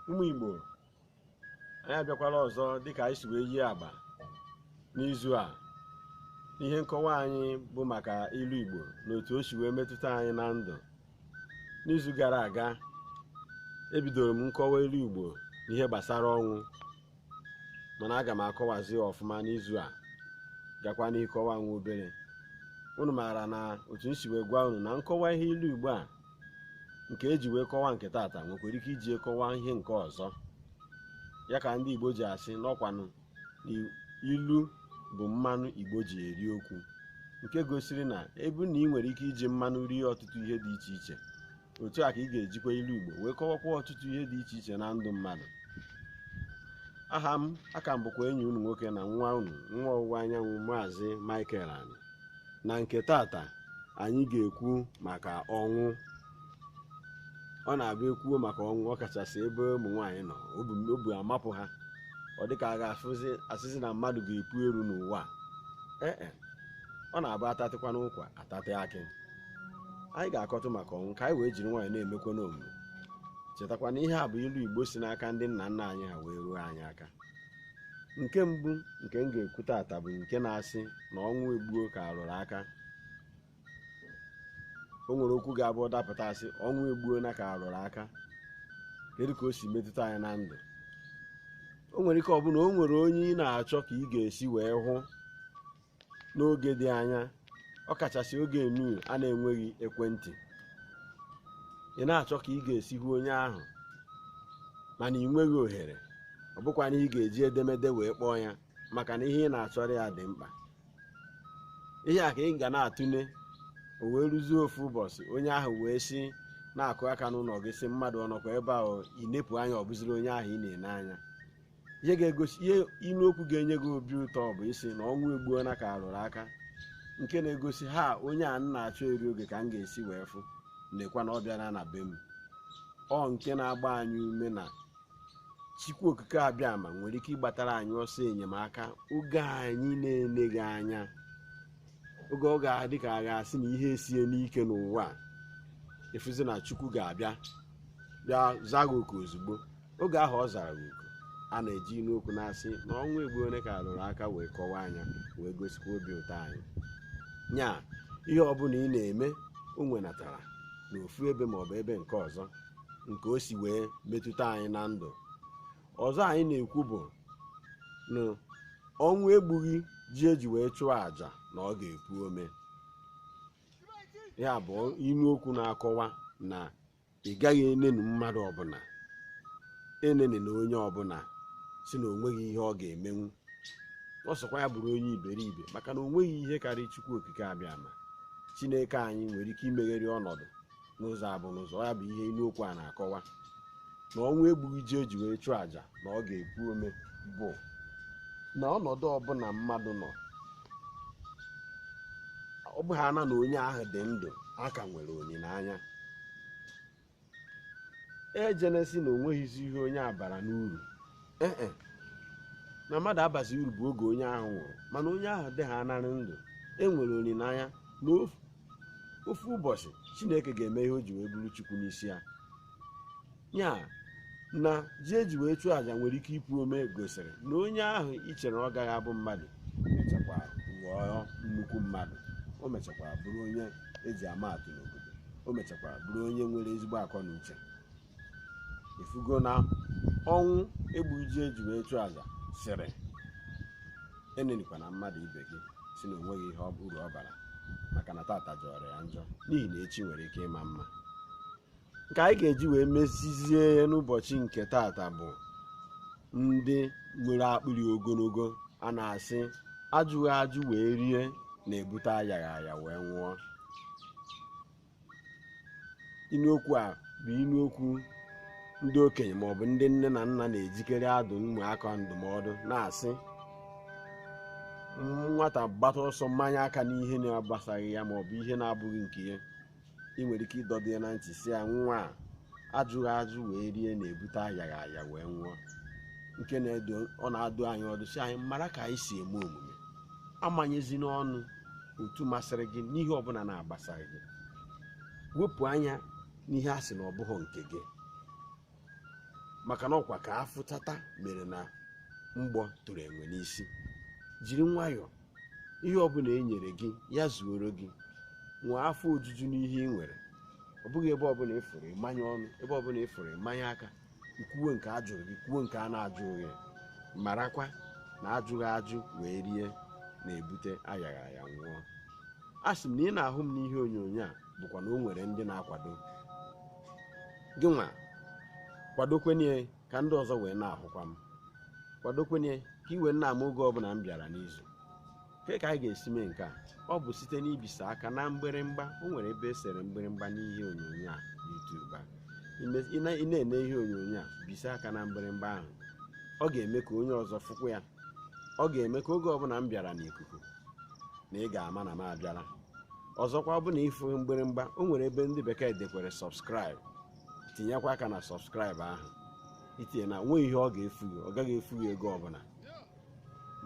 ụmụ igbo anyị abịakwala ọzọ dịka anyị si wee yie agba n'izu a n'ihe nkọwa anyị bụ maka ilu igbo na otu o si wee metụta anyị na ndụ n'izu gara aga ebidoro m nkọwa ilu Igbo n'ihe gbasara ọnwụ mana aga m akọwazi ọfụma n'izu a gakwa n'ihu ịkọwa nwa obere unu maara na otu m si wee gwa unu na nkọwa ihe ilu Igbo a nke eji wee kọwa nke tata nwekwara ike iji kọwa ihe nke ọzọ ya ka ndị Igbo ji asị n'ọkwanụ na ilu bụ mmanụ Igbo ji eri okwu nke gosiri na ebe ọ bụ na ị nwere ike iji mmanụ rie ọtụtụ ihe dị iche iche otu a ka ị ga-ejikwa ilu Igbo wee kọwakwa ọtụtụ ihe dị iche iche na ndụ mmadụ aha m aka m bụkwa enyi unu nwoke na nwa unu nwa ọwụwa anyanwụ maazị Michael Ani na nke tata anyị ga-ekwu maka ọnwụ ọ na-abụ ekwuo maka ọnwụ ọ kachasị ebe ụmụ nwaanyị nọ obu amapụ ha ọ dịka a ga-asịzi na mmadụ ga-epu eru n'ụwa a. ee e, ọ na-abụ atatịkwanụ ụkwa atatị akị anyị ga-akọtụ maka ọnwụ ka anyị wee jiri nwayọ na-emekwanụ omume chetakwa na ihe a bụ ilu igbo si n'aka ndị nna nna anyị ha wee ruo anyị aka nke mbụ nke m ga-ekwu tata bụ nke na-asị na ọnwụ egbuo ka arụrụ aka o nwere okwu ga-abụ ọ dapụta asị ọnwụ egbuona ka arụrụ aka kedu ka o si metụta anyị na ndụ o nwere ike ọ bụ na o nwere onye ị na-achọ ka ị ga-esi wee hụ n'oge dị anya ọ kachasị oge enu a na-enweghị ekwentị ị na-achọ ka ị ga-esi hụ onye ahụ mana ị nweghị ohere ọ bụkwa na ị ga-eji edemede wee kpọọ ya maka na ihe ị na-achọrọ ya dị mkpa ihe a ka ị ga na-atụle o wee rụzie ofu ụbọchị onye ahụ wee si na-akụ aka n'ụlọ gị sị mmadụ ọ nọkwa ebe ahụ ị nepụ anya ọ bụziri onye ahụ ị na-ene anya ihe ga-egosi ihe ilu okwu ga-enye gị obi ụtọ bụ ịsị na ọnwụ egbuona ka arụrụ aka nke na-egosi ha onye a m na-achọ eri oge ka m ga-esi wee fụ lekwa na ọ bịara na be m ọ nke na-agba anyị ume na Chukwu Okike Abịama nwere ike ịgbatara anyị ọsọ enyemaka oge anyị na-eleghị anya oge ọ ga-adị ka a ga-asị na ihe esiena ike n'ụwa a, ị fụzi na Chukwu ga-abịa bịa zaa gị oku ozugbo oge ahụ ọ zara gị oku a na-eji ilu okwu na-asị na ọnwụ egbuona ka arụrụ aka wee kọwaa nya wee gosikwa obi ụtọ anyị nya ihe ọbụla ị na-eme o nwenatara n'ofu ebe maọbụ ebe nke ọzọ nke o si wee metụta anyị na ndụ ọzọ anyị na-ekwu bụ na ọnwụ egbughị ji eji wee chụọ àjà na ọ ga-epu ome ya bụ inu okwu na-akọwa na ị gaghị eneni mmadụ ọbụla enenina onye ọbụla sị na onweghị ihe ọ ga-emenwu ọ sọkwa ya bụrụ onye iberibe maka na onweghị ihe karịa Chukwu Okike Abịama Chineke anyị nwere ike imegheri ọnọdụ n'ụzọ abụ n'ụzọ ya bụ ihe inu okwu a na-akọwa na ọnwụ egbughị ji eji wee chụọ àjà na ọ ga-epu ome bụ na ọnọdụ ọbụla mmadụ nọ ọ bụhana na onye ahụ dị ndụ a ka nwere olileanya ejene sị na onweghịzi ihe onye a bara n'uru ee e, na mmadụ abazi uru bụ oge onye ahụ nwụrụ mana onye ahụ dịhanarị ndụ enwere olileanya na ofu ụbọchị chineke ga-eme ihe o ji wee bụrụ chukwu n'isi ya ya na ji eji wee chụọ àjà nwere ike ipu ome gosiri na onye ahụ i chere ọ gaghị abụ mmadụ o mechakwa ghọọ nnukwu mmadụ o mechakwa bụrụ onye eji ama atụ n'obodo o mechakwa bụrụ onye nwere ezigbo akọ na uche ifugo na ọnwụ egbughị ji eji wee chụọ aja sịrị enenikwana mmadụ ibe gị sị na onweghị ihe ọ- uru ọ bara maka na tata jọrọ ya njọ n'ihi na echi nwere ike ịma mma nke anyị ga-eji wee mezizie ya n'ụbọchị nke tata bụ ndị nwere akpịrị ogologo a na-asị ajụghị ajụ wee rie na-ebute ayaghị aya wee nwụọ inu okwu a bụ inu okwu ndị okenye ma ọ bụ ndị nne na nna na-ejikere adụ ụmụaka ndụmọdụ na a sị nwata gbata ọsọ manye aka n'ihe na-agbasaghị ya ma ọ bụ ihe na-abụghị nke ya ị nwere ike ịdọdo ya na ntị sị ya nwa a ajụghị ajụ wee rie na-ebute ayaghị aya wee nwụọ nke ọ na-adụ anyị ọdụ sị anyị mara ka anyị si eme omume amanyezina ọnụ otu masịrị gị n'ihe ọbụla na-agbasaghị gị wepụ anya n'ihe a sị na ọ bụghị nke gị maka na ọkwa ka a fụtata mere na mgbọ tụrụ enwe n'isi jiri nwayọọ ihe ọbụla e nyere gị ya zuoro gị nwee afọ ojuju n'ihe ị nwere ọ bụghị ebe ọbụla ị fụrụ ị manye ọnụ ebe ọbụla ị fụrụ ị manye aka i kwuwe nke a jụrụ gị i kwuwe nke a na-ajụghị gị marakwa na ajụghị ajụ wee rie na-ebute ayaghị aya nwụọ a sị m na ị na-ahụ m n'ihe onyonyo a bụkwa na o nwere ndị na-akwado gịnwa kwadokwenye ka ndị ọzọ wee na-ahụkwa m kwadokwenye ka i wee na-ama oge ọbụla m bịara n'izu kee ka anyị ga-esi mee nke a ọ bụ site n'ibisa aka na mgbịrịmgba o nwere ebe e sere mgbịrịmgba n'ihe onyonyo a YouTube a Ime- ị na- ị na-ene ihe onyonyo a bisa aka na mgbịrịmgba ahụ ọ ga-eme ka onye ọzọ fụkwa ya ọ ga-eme ka oge ọbụla m bịara n'ikuku na ị ga-ama na m abịala ọzọkwa ọ bụ na ị fụ mgbịrịmgba o nwere ebe ndị bekee dekwere subscribe tinyekwa aka na subscribe ahụ itinye na nwe ihe ọ ga-efu gị ọ gaghị efu gị ego ọbụla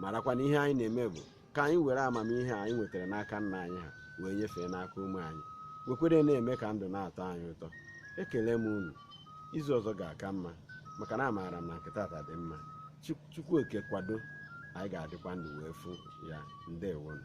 marakwa na ihe anyị na-eme bụ ka anyị were amamihe anyị nwetara n'aka nna anyị ha wee nyefee n'aka ụmụ anyị wekwere na-eme ka ndụ na-atọ anyị ụtọ ekele m unu izu ọzọ ga-aka mma maka na amaara m na nke taata dị mma chukwu oke kwado anyị ga-adịkwa ndụ wee fụ ya ndewonu